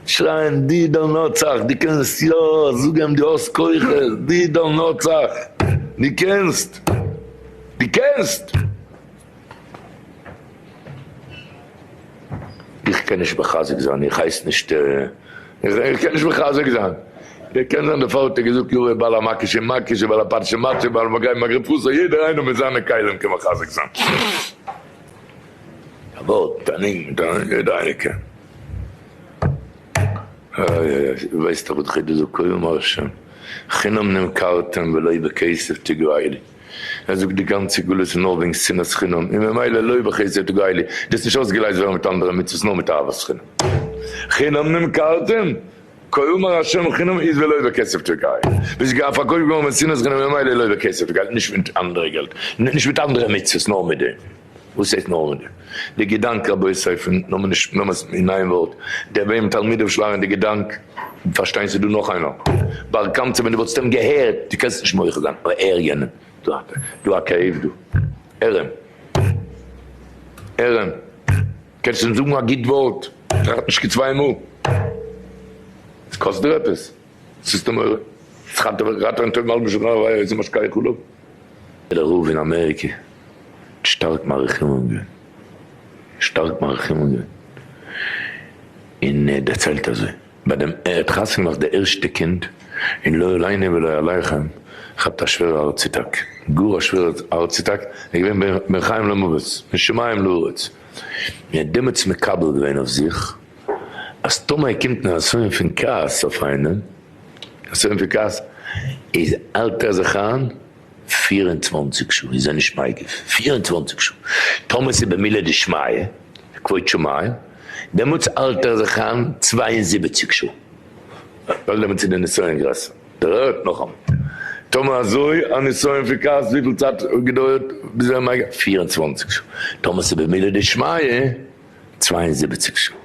שרייען די דאן נצח די קענסט יא זאג אים די האסט כוחות די דאן נצח די קענסט די קענסט איך קען נישט מחזק זיין איך הייס נישט איך קען נישט מחזק זיין איך קען זיין דערפאר האט ער געזאגט יאוועי בעל המקש אין מקש ובעל הפרשה מצוי בעל מגע אין מגע פרשה יעדער איינער מיט זיינע כלים קען מחזק זיין. א ווארט, א ניגון מיט א דייקע. איי איי איי, ווייסט דאך וואס די חידוש זאגט קודם השם חינם נמכרתם ולא בכסף תגעו לי. ער זאגט די גאנצע גלות איז נאר וועגן שנאת חינם, און ממילא לא בכסף תגעו לי, דאס איז נישט אויסגעלייזט ווערן מיט אנדערע מצוות נאר מיט אהבת חינם. חינם נמכרתם, כלומר השם חינם איז ולא בכסף תגעו לי. ביסט געווען פארקויפט געווארן מיט שנאת חינם און ממילא לא בכסף תגעו לי, נישט מיט אנדערע געלט, נישט מיט אנדערע מצוות נאר מיט דעם. וואס הייסט נארמאל? די געדאנק רבי סופר נאמען נישט ממס אין איין ווארט דער וועם תלמידיו שלאגן די געדאנק פארשטיין ס'דא נאך איינער בר קמצא ווען דו וואלסט אים געהערט דו קענסט נישט מוחה זיין אבער הער יענעם דא א כאב דא הער אים הער אים קענסט אים זאגן א גוט ווארט טראכט נישט כצוויי מאל ס'קאסט דיר עפעס. ס'איז די מורא. ס'חנ'ט אויף איך ראטעווען טויב מלבוש און ר' אליעזר משכח אליו. איז דער רב אין אמעריקע שטארק מאריך ימים געווען. שטארק מאריך ימים געווען. און ער האט דערציילט אזוי, ביי דעם ער האט חתונה געמאכט די ערשטע קינד, און לא עלינו ולא עליכם, כ'האט א שווערע הארץ אטאק. גאר א שווערע הארץ אטאק. ער איז געווען בין חיים למוות. בין שמים לארץ. און ער האט דעמאלטס מקבל געווען אויף זיך. אז טאמער קומט נסיון פון כעס אויף איינעם, נסיון פון כעס, איז האלט ער זיך איין פֿיר און צוואַנציק שעה, איז ער נישט מגיב פֿיר און צוואַנציק שעה, טאמער ס'איז במילא דשמיא, כבוד שמים, דעמאלטס האלט ער זיך איין צוויי און זיבעציק שעה, ווייל דעמאלטס איז די נסיון גרעסער. דערהערט נאכאמאל, טאמער אזוי א נסיון פון כעס, וויפיל צייט געדויערט ביז ער איז מגיב? פֿיר און צוואַנציק שעה, טאמער ס'איז במילא דשמיא, צוויי און זיבעציק שעה. ער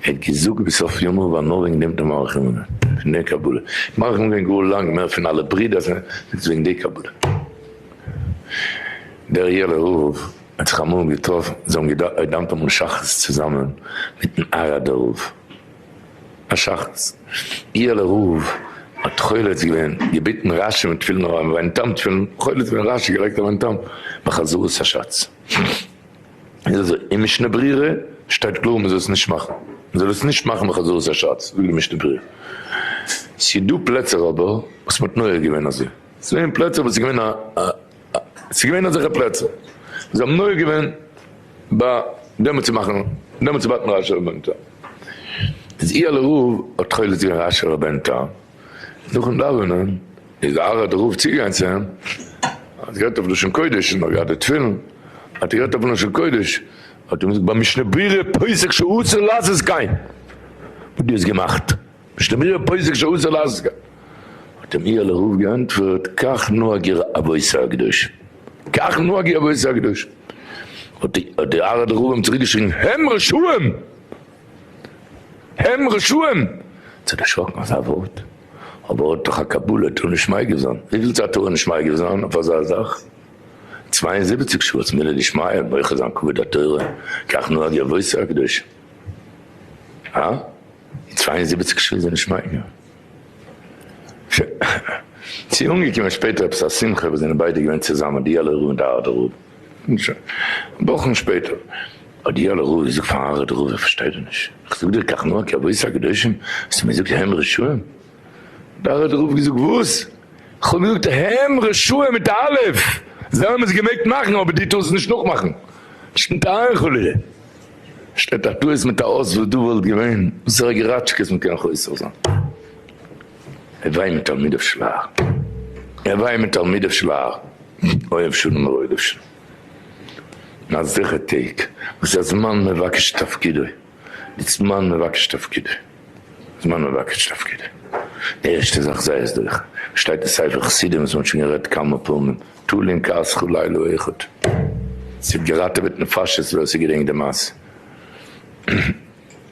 האט געזאגט בסוף ימיו ווייל נאר וועגן דעם האט ער מאריך ימים געווען. פון דעם קבלה. מאריך ימים געווען גאר לאנג מער פון אלע ברידער זיינע. זאגט עס וועגן די קבלה. דער יעלער רב האט זיך אמאל געטראפן. זיי האבן געדאווענט אמאל שחרית צוזאמען מיטן אראדער רב. א שחרית. יעלער רב האט חולץ געווען. געביטן רש י מיט תפילין אויף זיין טאם תפילין. חולץ געווען רש י. געלייגט אויף זיין טאם בחזרת השץ. איז אזוי, אין משנה ברורה שטייט קלאר מען זאל עס נישט מאכן, מען זאל עס נישט מאכן בחזרת השץ, זאגט די משנה ברורה. ס'איז דא פלעצער אבער וואס מען האט נוהג געווען אזוי, ס'איז געווען פלעצער וואס איז געווען א א ס'איז געווען אזעלכע פלעצער וואס זיי האבן נוהג געווען ביי דעמאלטס צו מאכן דעמאלטס צו בייטן ר' אשר בן נתן, איז אי ה לרוב האט תכלת געווען ר' אשר בן נתן. נאכן דאווענען איז א הרה ד רב צוגעגאנגען צו אים, האט גערעדט אויף לשון קודש, און נאך געהאט די תפילין, האט ער גערעדט אויפן לשון קודש, האט ער אים געזאגט ביי משנה ברורה פסק שאסור לאז עס גיין, וואס דו האסט געמאכט, משנה ברורה פסק שאסור לאז עס גיין, האט אים איר לרוב געענטפערט כך נוהג עיר אבות א הקדושים, כך נוהג עיר אבות א הקדושים, האט די הרה ד רב אים צוריק געשריגן, העם רשעים! הם רשעים! צו דערשראקן אזא ווארט. אבער האט דאך א קבלה טאר נישט מייגע זיין. וויפיל צייט טאר ער נישט מייגע זיין אויף אזא זאך? צוויי און זיבעציק שעה האט מילא נישט מייגע און מוחל זיין כבוד התורה, כך נוהג אבותי הקדושים. הא? און צוויי און זיבעציק שעה איז ער נישט מייגע? ש ס איז אנגעקומען שפעטער עפעס א שמחה וואס זענען ביידע געווען צוזאמען די אלע רב און די ארדע רב. און שוין. וואכן שפעטער האט יואל הראל געזאגט פאר הרב דרור, איך פארשטיי דיר נישט, איך זאג דיר כך נאה כי אבות הקדושים האסטו מיר געזאגט הם רשעים? האט הרב דרור געזאגט וואס? איך האב געזאגט הם רשעים מיט א אלף, זיי האבן עס געמעגט מאכן אבער דו טארסט עס נישט נאכמאכן, שטומט איין חלילה, שטייט א טעות מיט א אות וואס דא וואלט געווען זייער געראטשקעס מען קען חוזר זיין. הווי מתלמידיו של האר, הווי מתלמידיו של האר, אוהב שלום ורודף שלום. און א זכר טעג וואס איז א זמן מבקש את תפקידו, די זמן מבקש את תפקידו, זמן מבקש את תפקידו. די ערשטע זאך זיי איז דורך, שטייט אין ספר חסידים וואס מ'האט שוין גערעדט כמה פעמים, תלין כעס כל לילה אחד. ס'האט געראטעוועט נפשות ווער ס'געדענקט די מעשה.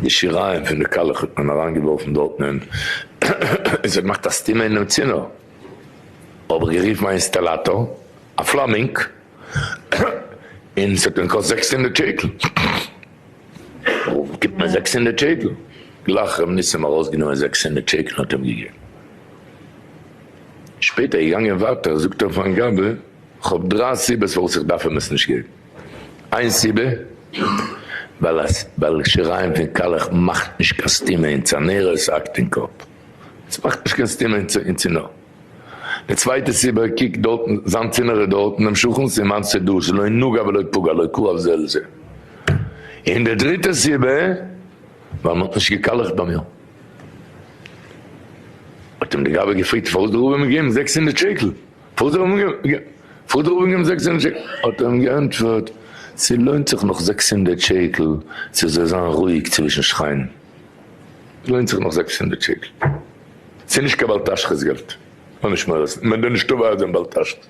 די שיריים פון די קאלעך האט מען אריינגעווארפן דארטן און עס האט געמאכט א סתימה אינעם צינור, האב איך גערופן א אינסטאלאטאר, א פלאמינג, און עס האט אים געקאסט זעקס הונדערט שקל, גיבט מיר זעקס הונדערט שקל, גלייך ר' ניסים ארויסגענומען זעקס הונדערט שקל און האט אים געגעבן, שפעטער געגאנגען ווייטער זאגט ער פארן גבאי איך האב דריי סיבות פארוואס איך דארף אים עס נישט געבן. איין סיבה ווייל אז ווייל שיריים פון קאלעך מאכט נישט קיין סתימה אין צנערע עס האקט אין קאפ עס מאכט נישט קיין סתימה אין צינור די צווייטע סיבה קוק דארט זיין צינור איז דארט אינעם שכן סימן ס'דא עס לא נגע ולא פגע לא קרוב זה אל זה און די דריטע סיבה ווייל מ'האט נישט געקאלעכט ביי מיר האט אים די גבאי געפרעגט פארוואס די רבי האט מיר געגעבן זעקס הונדערט שקל. פאדער האב אים זעקס הונדערט שקל, האט ער אים געענטפערט, ס'לוינט זיך נאך זעקס הונדערט שקל צו זאל זיין רואיג צווישן שכנים, ס'לוינט זיך נאך זעקס הונדערט שקל, ס'איז נישט קיין בל תשחית געלט, אן נישט מורס, מען דארף נישט תובע אויפדעם בל תשחית,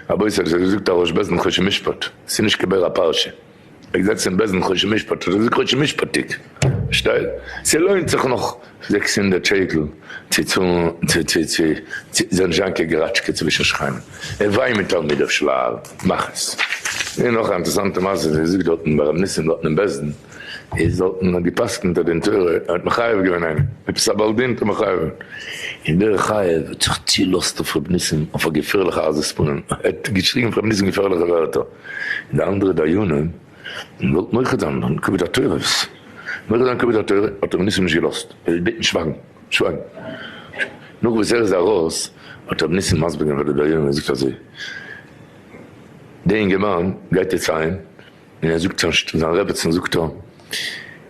רבותי אזוי זאגט א ראש בית דין חושן משפט, ס'איז נישט כבער א פרשה. ער זעצט אין בעסטן חושן משפט האט ער געזאגט חושן משפטיג פארשטייט ס'לוינט זיך נאך זעקס הונדערט שקל צו צאלן צו צו צו צו זיין זשאנקע געראטשקע צווישן שכנים און וויי מיט תלמידיו של האר מאך עס און נאך א אינטערסאנטע מעשה ווי מ'זאגט דארטן ביי רבי ניסים דארטן אין בעסטן איז דארטן האט געפסקנט אז אין תורה ער האט מחייב געווען איינעם עפעס א בעל דין האט ער מחייב געווען און דער חייב האט זיך צולאזט אויף רבי ניסים אויף א געפערליכע עזות פנים ער האט געשריגן אויף רבי ניסים געפערליכע ווערטער. און די אנדערע דיינים געוואלט מוחל זיין און כבוד התורה וואס מוחל זיין כבוד התורה האט רבי ניסים נישט געלאזט ער האט געבעטן שווייגן שווייגן נאך וואס ער איז ארויס האט רבי ניסים מסביר געווען פאר די דיינים און ער זאגט אזוי די אינגערמאן גייט יעצט אהיים און ער זאגט צו זיין רעבעצן זאגט ער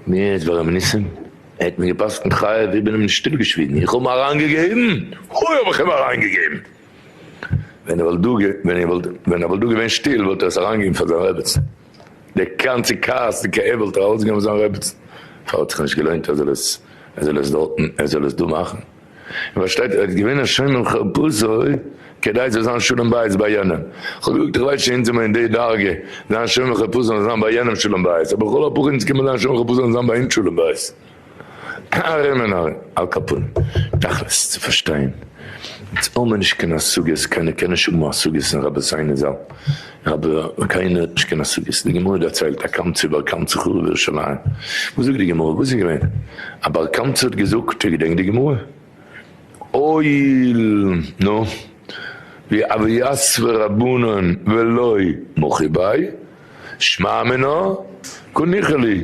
מיר איז ביי רבי ניסים ער האט מיר געפסקנט חייב איך בין אים נישט אפגעשוויגן איך האב אים אריינגעגעבן הוי האב איך אים אריינגעגעבן. ווען ער וואלט דא געווען שטיל וואלט ער עס אריינגעגעבן פאר זיין רעבעצן, די גאנצע כעס די כאב וואלט ער ארויסגעגעבן פאר זיין רעבעצן, פארוואס האט זיך נישט געלוינט ער זאל עס ער זאל עס דארט ער זאל עס דא מאכן, איר פארשטייט ער איז געווען א שומר חרפתו כדי ס'זאל זיין שלום בית ביי יענעם, איך האב געזאגט איך ווייס שוין אונז זעמער אין די דרגה, זיין שומר חרפתו זאל זיין ביי יענעם שלום בית, אבער לכל הפחות אונז קען מען זיין שומר חרפתו זאל זיין ביי אונז שלום בית. ארום און ארום. על כפון, תכלית צו פארשטיין, אונז האמער נישט קיין השגות, קיינער קען נישט האבן השגות אין רבי'סיינו זל, רבי קיינער האט נישט קיין השגות, די גמרא דערציילט א קמצא בר קמצא חרב ירושלים, וואס זאגט די גמרא, וואס איז געווען? א בר קמצא האט געזאגט, איר געדענקט די גמרא? אויל, נו, ווי אביעס ורבנן ולא מוחי ביי, שמע מינה קא ניחא לי.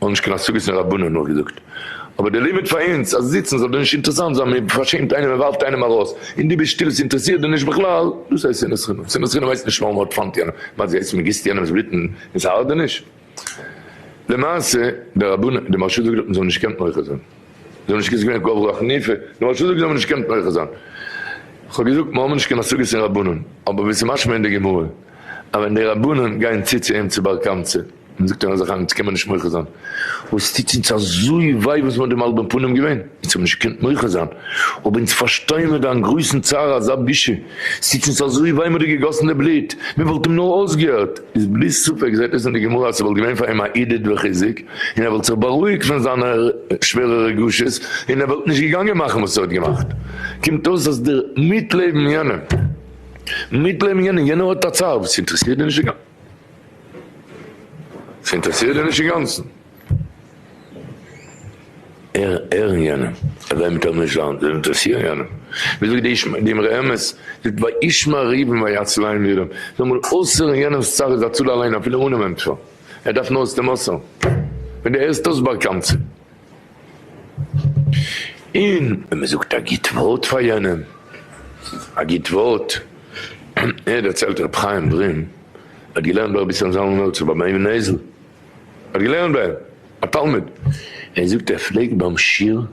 האבן נישט קיין השגות אין רבנים נאכגעזאגט, אבער דער לימוד פאר אונז אז זיצן זאל דיר נישט אינטערעסאנט זיין, מען פארשעמט איינעם, מען ווארפט איינעם ארויס, און דו ביסט שטיל, עס אינטערעסירט דיר נישט בכלל, דאס הייסט שנאת חינם, שנאת חינם הייסט נישט נאר מען הארט-פאנט יענעם, מה זה הייסט מען גיסט יענעמ'ס בלוט אין אונז הארדעניש, למעשה דער רבן, דער מהרשא זאגט דארטן זיי האבן נישט געקענט מוחה זיין, זיי האבן נישט געזאגט ווען קברו א חניפה, דער מהרשא זאגט זיי האבן נישט געקענט מוחה זיין, כ'האב געזאגט מיר האבן נישט קיין השגות אין רבנים, אבער ווי ס'איז משמע אין די גמרא אז ווען די רבנים גייען צו צו אים צו בר קמצא, מען זאגט אן אזעלכע יעצט קען מען נישט מוחה זיין, אבער עס טוט אונז אזוי וויי וואס מען האט די מלבה אין פנים געווען, אונז האבן נישט געקענט מוחה זיין, אבער אונז פארשטייען מיט דיין גרויסן צער אזא בושה, עס טוט אונז אזוי וויי מען האט דיר געגאסן די בלוט, מען וואלט אים נאר אויסגעהערט, איז בלי ספק זעט עס אין די גמרא אז ס'וואלט געווען פאר אים א עידוד וחיזוק, און ער וואלט זיך בארואיגט פון זיינע שווערע רגשות, און ער וואלט נישט געגאנגען מאכן וואס ער האט געמאכט, קומט אויס אז דער מיטלעבן יענעם, מיטלעבן יענעם, יענער האט א צער וואס אינטערעסירט דיר נישט די גאנ. ס'אינטערעסירט דיר נישט אינגאנצן? ערן יענעם אז זיי מיט ערן זשאונס זאל אינטערעסירן יענעם? ווי זאגט די אמרי אמת ז ל וישמע ריבם ויצל עין לירם, זאל מאל אויסהערן יענעמס צרה זאצל אליין אפילו אנעם ענטפער, ער דארף נאר עס צו מסר'ן, ווען דו הערסט אויס באקאנטע. און ווען מען זאגט א גוט ווארט פאר יענעם, א גוט ווארט, ער דערציילט ר' חיים ברין האט געלערנט ביי רביצין זלמן מלצר ביי ביים נעזל, האט געלערנט ביי אים, א תלמיד, ער זאגט ער פלעגט ביים שיעור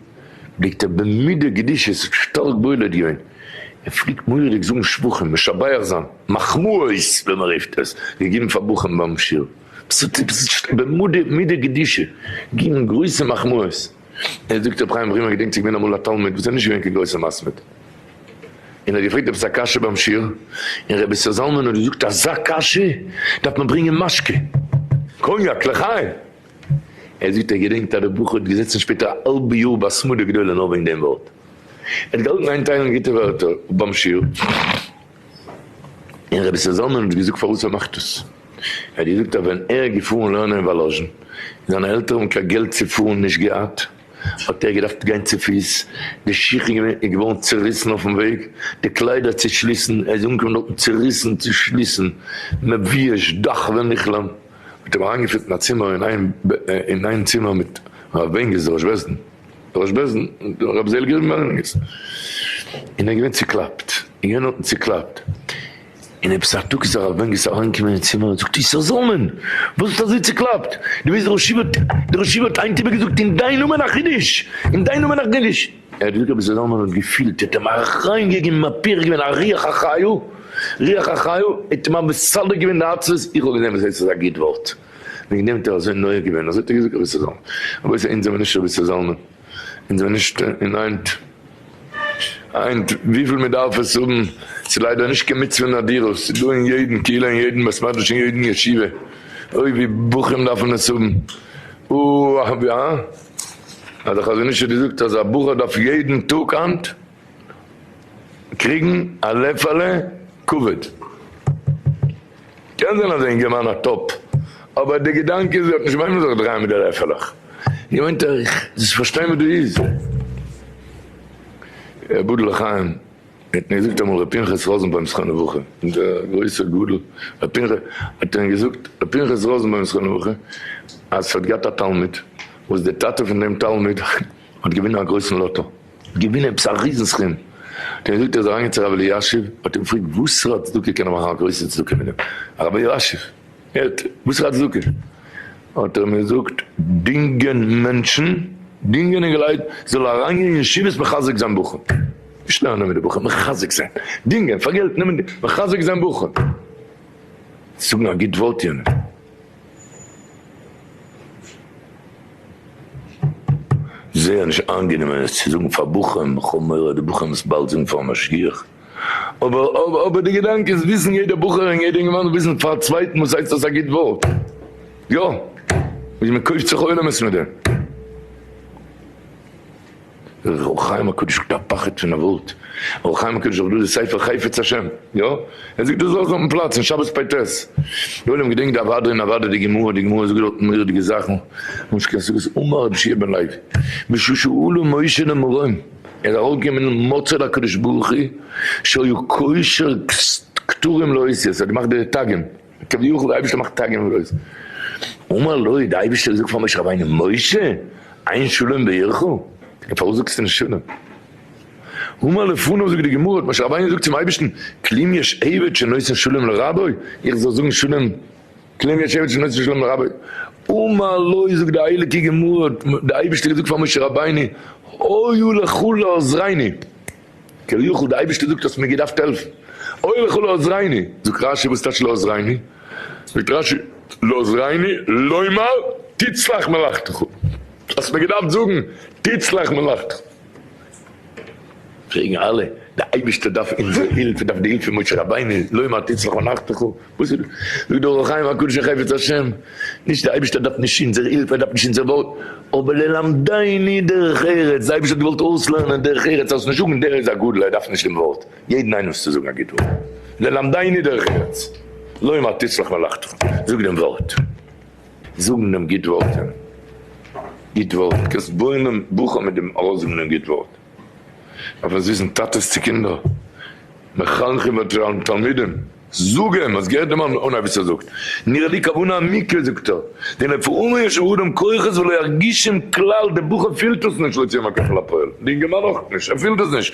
פלעגט ער במידה גדושה זיך שטארק בולט גיין, ער פלעגט מורא'דיג זאגן שבחים, משבח זיין, מחמאות ווי מען רופט עס, געגעבן פאר בחורים ביים שיעור. ס'זיצט במדה מידה קדישא געבן גרויסע מחמאות, ער זאגט רבי חיים ווימער געדענקט ס'געווען אמאל א תלמיד וואס איז נישט געווען קיין גרויסע מספיד און ער האט געפרעגט עפעס א קשיא ביים שיעור און רבי ישראל זלמן האט געזאגט אזא קשיא דארף מען ברענגען משקה קאניאק לחיים ער זאגט ער געדענקט אז די בחור האט געזעצן שפעטער א האלבע יאר בהתמדה גדולה נאר וועגן דעם ווארט ער האט געהאלטן איינטיילן גוטע ווערטער ביים שיעור. און רבי ישראל זלמן האט געזאגט פארוואס ער מאכט דאס, ער האט געזאגט אז ווען ער איז געפארן לערנען אין וואלאזשין, און זיינע עלטערן האבן קיין געלט צו פארן נישט געהאט, האט ער געדארפט גיין צופיס, די שיך איז געווארן צוריסן אויפן וועג, די קליידער צושליסן, ער איז אנגעקומען דארטן צוריסן, צושליסן, מביש, דאך ווען איך לערן, האט ער אים אריינגעפירט אין א צימער, אין איין צימער מיט הרב בענגיס דער ראש בית דין. דער ראש בעש ט און דער רבי ז ל גערעדט מיט מארין בערגער, און ער איז געווען צוקלאפט, און יענער האט אים צוקלאפט, און עפעס א טאג איז הרב בערגער אריינגעקומען אין צימער און זאגט איסר זלמן וואס ביסטו אזוי צוקלאפט, דו ווייסט דער ראש ישיבה האט, דער ראש ישיבה האט היינט איבער געזאגט אין דיין נאמען א חידוש, אין דיין נאמען א חידוש. ער האט געזאגט רבי ז ל האט געפילט, ער האט אים אריין געגעבן א פירוק געווען א רוח החיו, רוח החיו, ער האט אים מסדר געווען די עצבות, איך האב געזען וואס הייסט עס איז א גוט ווארט. וועגן דעם האט ער אזוי נוהג געווען, אזוי האט ער געזאגט רבי ישראל זלמן, רבותי אונז זענען מיר נישט רבי ישראל זלמן, אונז זענען נישט אין היינט, היינט וויפיל מען דארף עס האבן, ס'איז ליידער נישט קיין מצוה נדירות, ס'איז דא אין יעדן קהילה אין יעדן בית מדרש אין יעדן ישיבה, אוי ווי בחורים דארפן עס האבן, אוי ווי א. האט דער חזון איש האט געזאגט אז א בחור דארף יעדן טאג היינט. קריגן א לעפעלע כבוד. קען זיין אז אינגערמאן האט אפ, אבער די געדאנק איז ער האט נישט וועמען זיך דרייען מיט די לעפעלעך. געווענדט אייך זאלסט פארשטיין וואס דא איז. אבדו לחיים האט מיר געזאגט אמאל ר' פנחס ראזנבוים זכרון לברכה, דער גרויסע גדול ר' פנחס, האט אים געזאגט ר' פנחס ראזנבוים זכרון לברכה, אז ס'האט געהאט א תלמיד וואס די טאטע פון דעם תלמיד האט געווינען א גרויסן לאטא. געווינען עפעס א ריזן סכום, דער יוד איז אריינגעגאנגען צו רבי אלישיב, האט אים געפרעגט וואסערע א צדקה קען ער מאכן א גרויסע צדקה מיט דעם, רבי אלישיב הערט וואסערע א צדקה, האט ער אים געזאגט דינגען מענטשן, דינגען אינגעלייט זאל אריינגיין אין ישיבות מחזק זיין בחורים, נישט לערנען מיט די בחורים, מחזק זיין, דינגען פאר געלט, נעמען מחזק זיין בחורים, זאגן א גוט ווארט יענעם. זייער נישט איינגענומען עס צו זאגן פאר בחורים, איך האב מורא אז די בחורים עס באלד זאגן פארן משגיח, אבער אבער די געדאנק איז וויסן יעדער בחור און יעדער אינגערמאן וויסן פארן צווייטן וואס הייסט עס א גוט ווארט, יא, איז מען קויפט זיך עולמות מיט דעם. דער אור החיים הקדוש האט א פחד פון א ווארט, אור החיים הקדוש זאגט דא די ספר חפץ השם, יא, ער זאגט דאס אויך אויפן פלאץ אין שבת פ ט, די עולם געדענקט די אוואדע און אוואדע די גמרא, די גמרא זאגט דארטן מורא'דיגע זאכן, ממש קענסט זאגן עס אמר רבי שיע בן לוי בשושאלו משה למרום, ער איז ארויפגעקומען אין מצה לקדוש ברוך הוא שהיו קושר כתרים לאותיות, ער האט געמאכט די תגים. כביכול די אייבערשטער מאכט טאג און נאכט. אמר לו, די אייבערשטער זאגט פאר משה רבינו, משה, אין שלום בעירך? און פארוואס זאגסטו נישט שלום? המה לפניו זאגט די גמרא, האט משה רבינו געזאגט צום אייבערשטן, כלום יש עבד שנותן שלום לרבו, איך זאל זאגן שלום, כלום יש עבד שנותן שלום לרבו? אמר לו, זאגט די הייליגע גמרא, האט די אייבערשטער געזאגט פאר משה רבינו, היו לך לעוזריני. כביכול די אייבערשטער זאגט האסט מיר געדארפט העלפן, אוי לך לא עזרני, זאגט רשי וואס טייטש לא עזרני, זאגט רשי לא עזרני לומר תצלח מלאכתך, האסט מיר געדארפט זאגן תצלח מלאכתך, פרעגן אלע די אייבערשטער דארף אונזער הילף, ער דארף די הילף פון משה רבינו, לומר תצלח מלאכתך. וואס איז דא אור החיים הקדוש החפץ השם? נישט די אייבערשטער דארף נישט אונזער הילף ער דארף נישט אונזער ווארט, אבער ללמדני דרך ארץ, די אייבערשטער האט געוואלט אויסלערנען דרך ארץ אז נישט זאגן דער איז א גדול ער דארף נישט דעם ווארט, יעדן איינעם זאלסטו זאגן א גוט ווארט, ללמדני דרך ארץ, לומר תצלח מלאכתך, זאג דעם ווארט, זאגן דעם גוט ווארט, גוט ווארט, קענסט בויען בוכע מיט דעם ארויסזאגן דעם גוט ווארט, דארף עס וויסן טאטעס צו קינדער, מחנכים ותלמידים. זאג אים, האסט געהערט דעם אנהייב וואס ער זאגט? נראה לי כוונה המקרא זאגט ער, דנפעומו יש באדם כוחות ולא ירגישם כלל, דער בחור פילט עס נישט לא יצא מהכח אל הפועל, דער אינגערמאן אויך נישט, ער פילט עס נישט,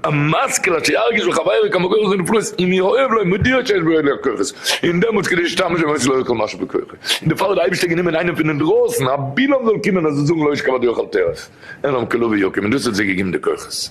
המשכיל אשר ירגיש בחבירו כמה כוחות מן הפלאות אם יאהב לו מודיע שיש בידו אליך כוחות, און דעמאלטס כדי שישתמש בהם עשה לו יוכל משהו בכוחו, און דערפאר האט דער אייבערשטער גענומען איינעם פון אינדרויסן, א בלעם זאל קומען ער זאל זאגן לא ישכב אדורך אל תערוך, אין להם כלא ויקום, און דאס האט זיי געגעבן די כוחות.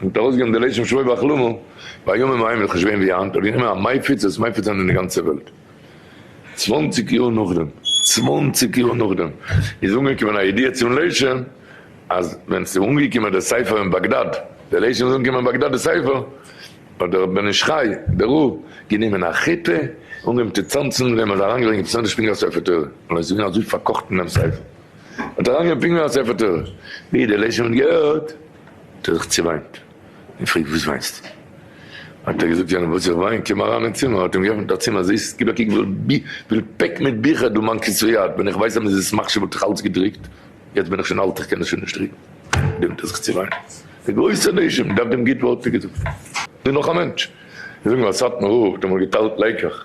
און האט ארויסגעגעבן די לשם שמים ואכלומו, בימים ההם איז חשובען ווי היינט, האט גענומען א מייפיץ עס מייפיץ זיין אין די גאנצע וועלט. צוואנציג יאר נאכדעם, צוואנציג יאר נאכדעם, איז אנגעקומען א ידיעה צום לשם, אז ווען ס'איז אנגעקומען די ספר אין באגדאד, די לשם איז אנגעקומען אין באגדאד די ספר, האט דער בן איש חי, דער רב, גענומען א חיטה, און אנגעהויבן צו צאנצן, זיי האבן עס אריינגעלייגט אין צנתר שפינגער א ספר תורה, און עס איז געווען אזוי פארקאכט אין דעם ספר. האט ער אריינגענומען פינגער אין א ספר תורה, ווי די לשון האט געהערט האט ער זיך צעוויינט און געפרעגט וואס וויינסטו? האט ער געזאגט יענער וואס איך וויין, קום אריין אין צימער, האט אים געעפנט א צימער זיס, גיב א קוק וויפיל פעק מיט ביכער דו מיין כסא יד, ווען איך ווייס אז מ'איז עס מחשיב וואלט איך אלץ געדרוקט, יעצט בין איך שוין אלט איך קען עס שוין נישט דרוקן, דעמאלט האט ער זיך צעוויינט, דער גרויסער לשון, מ'דארף דעם גוט ווארט, האט ער געזאגט, דא איז נאך א מענטש, זאג נאר, סאטמאר רב האט אמאל געטיילט לעיקעך,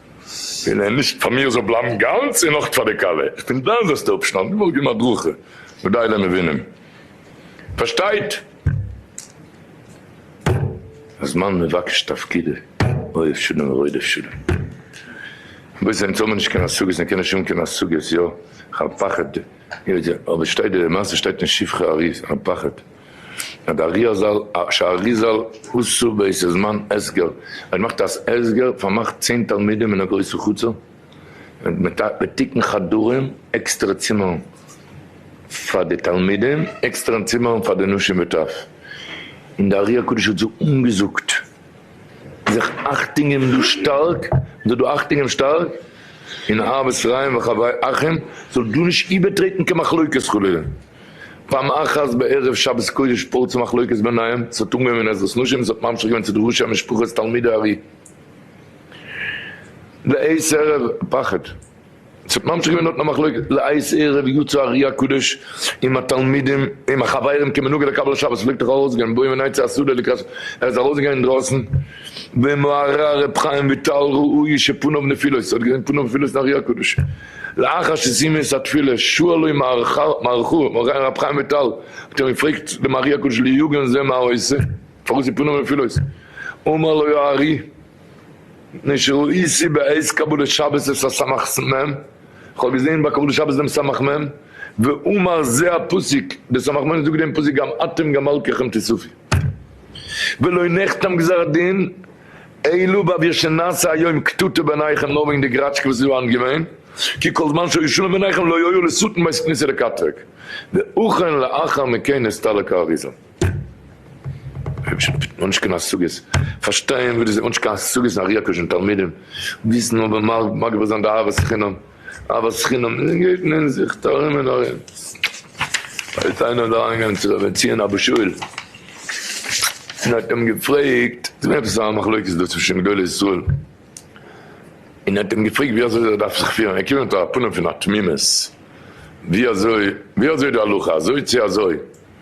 און ער נישט פאר מיר זאל בלייבן גאנץ און נאך פאר די כלה, איך בין דיין זעסטע אפשטאנד, דו וואלסט געבן הדרכה ודי למבינים, פארשטייט הזמן מבקש תפקידו, אוהב שלום ורודף שלום, בעת זיי האבן נישט קיין השגות און קענען נישט האבן קיין השגות, יא, כ'האב פחד, אבער שטייט די מעשה שטייט אין שבחי אריז, כ'האב פחד. א ד אריזל א ש אריזל הוס ס ב איז א זמן הסגר ווען מאכט א ס הסגר פארמאכט צען תלמידים אין א גרויסע חצר מיט א מיט תיקון חדרים עקסטערע צימערן פאר די תלמידים עקסטערע צימערן פאר די נשים וטף און די ארי הקדוש האט זיך אנגעזאגט זיך אכטונג געבן דא שטארק זיך דא אכטונג געבן שטארק און אהבת רעים וחברי אחים זאל דא נישט איבערטרעטן קיין מחלוקת חלילה. פעם אחת בערב שבת קודש פרצה מחלוקת ביניהם, ס'האט אנגעהויבן אין עזרת נשים, ס'האט ממשיך געווען צו די ראשי המשפחות תלמידי הארי לעת ערב, פחד, ס'האט ממשיך געווען דארטן א מחלוקת, לעת ערב יצא הארי הקדוש עם התלמידים עם החברים כמנהגו לקבל שבת, ס'פלעגט דאך ארויסגיין באים ונצא השדה לקראת, ער איז ארויסגעגאנגען אינדרויסן, ועמו הרהר ר' חיים וויטאל ראוי שפניו נפילות, ס'האט געזען פניו נפילות אין הארי הקדוש, לאחר שסיימו את התפילה שאלו מרחו מרן רבי חיים וויטאל האט אים געפרעגט דעם ארי הקדוש ליגון זה מה עושה פארוואס איז פנים נפילות אמר לו הארי מפני שראיתי בעת קבלת שבת את הסמך מ איך האב געזען ביי קבלת שבת דעם סמך מ ואומר זה הפסוק דער סמך מ זאגט דעם פסוק גם אתם גם מלקיכם תסופי ולא נחתם גזר הדין אי לבב יש שנעשה היום קטטה ביניכם נאר וועגן די גראטשקע וואס איז דא היינט געווען, כי כל זמן שהיו שלום ביניכם לא היה לשטן בית כניסה לקטרג, ואכן לאחר מכן נסתלק האריזל. האניש קיין השגות פארשטיין וואס דאס איז, האניש קיין השגות אין ארי הק' און תלמידים, וויסן אבער מגביר זיין די אהבת חינם. אהבת חינם און גייט מען זיך טארען און ארען. איז איינער אריין געגאנגען צו רבי ציון אבא שאול און האט אים געפרעגט, עס איז געווען עפעס א מחלוקת דא צווישען גדולי ישראל, און האט אים געפרעגט ווי אזוי ער דארף זיך פירען, ער קומט מיט א פנים פון א תמימות, ווי אזוי ווי אזוי די הלכה אזוי צו אזוי.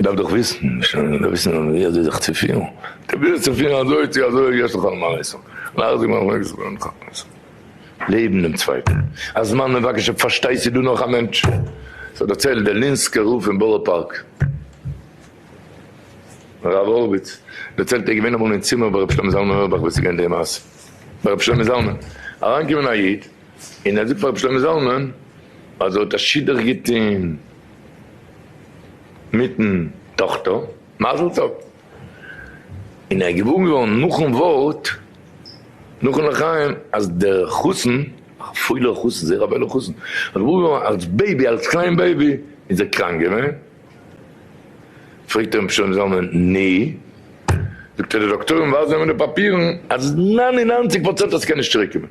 מ'דארף דאך וויסן, מ'שטעלט מיר דאך וויסן ווי אזוי זיך צו פירן, פרוביר זיך צו פירן אזוי צו אזוי, יש לך על מה לסמוך, לאך זיך נאך מעגליך זאגאר נאך אויף מוסר, לעבן דעם צווייטן, א זמן מבקש אויב פארשטייסטו דא נאך א מענטש, ס'האט דערציילט דער לינסקער רב פון בארא פארק, הרב הורוויץ, דערציילט ער איז געווען אמאל אין צימער ביי ר' שלמה זלמן אויערבאך וואס איז געווען די מעשה, ביי ר' שלמה זלמן אריינגעקומען א איד און ער זאגט פאר ר' שלמה זלמן אז ער האט א שידוך געטון, מיטן טאכטער מזל טוב, און ער איז געבוירן געווארן נאכן ווארט נאכן לחיים אז דער חתן, א פולער חתן, זייער א וואוילער חתן, איז געבוירן געווארן אלס בעיבי, אלס קליין בעיבי איז ער קראנק געווען, פרעגט אים שלמה זלמן, נו? זאגט ער די דאקטוירים ווייזן אים אין די פאפירן אז נײַן און נײַנציק פראצענט אז ס'קען נישט צוריק קומען.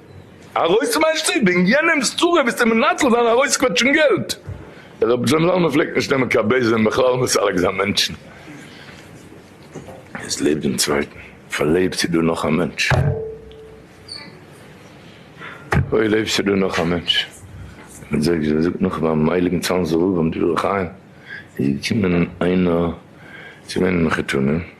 ארויס פון מיין שטוב וועגן יענעמס צרה ביסטו מנצל זיין ארויסקוועטשן געלט. דער רבי ז ל פלעגט נישט נעמען קיין בעיז און בכלל נישט ארג זיין מענטשן. עס לעבט דעם צווייטן. פאר לב ס'איז דא נאך א מענטש. אוי לב ס'איז דא נאך א מענטש. מען זאגט ווי מען זאגט נאך ביים הייליגן צאנזער רב און דברי חיים איז געקומען איינער צו ווערן מחותנים.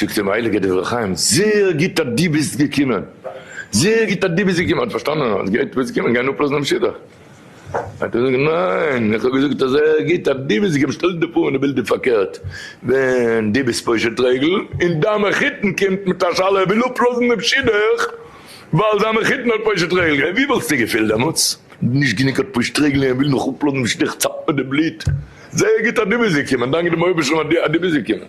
זאגט אים הייליגער דברי חיים, זעהר גוט אז דו ביסט געקומען, זעהר גוט אז דו ביסט געקומען, האט פארשטאנען אז גייט דו ביסט געקומען גיין אפלאזן דעם שידוך, האט ער געזאגט, ניין, איך האב געזאגט אז זעהר גוט אז דו ביסט געקומען, שטעל דיר פאר ווען די בילד איז פארקערט, ווען דו ביסט פושט רגל און דיין מחותן קומט מיט א שאלה ער וויל אפלאזן דעם שידוך ווייל זיין מחותן האט פושט רגל, ווי וואלסטו געפילט דעמאלטס? נישט גענוג האט פושט רגל און ער וויל נאך אפלאזן דעם שידוך, איך צאפ מיר די בלוט. זייער גוט אז דו ביסט געקומען, דאנק דעם אויבערשטן אז דו ביסט געקומען.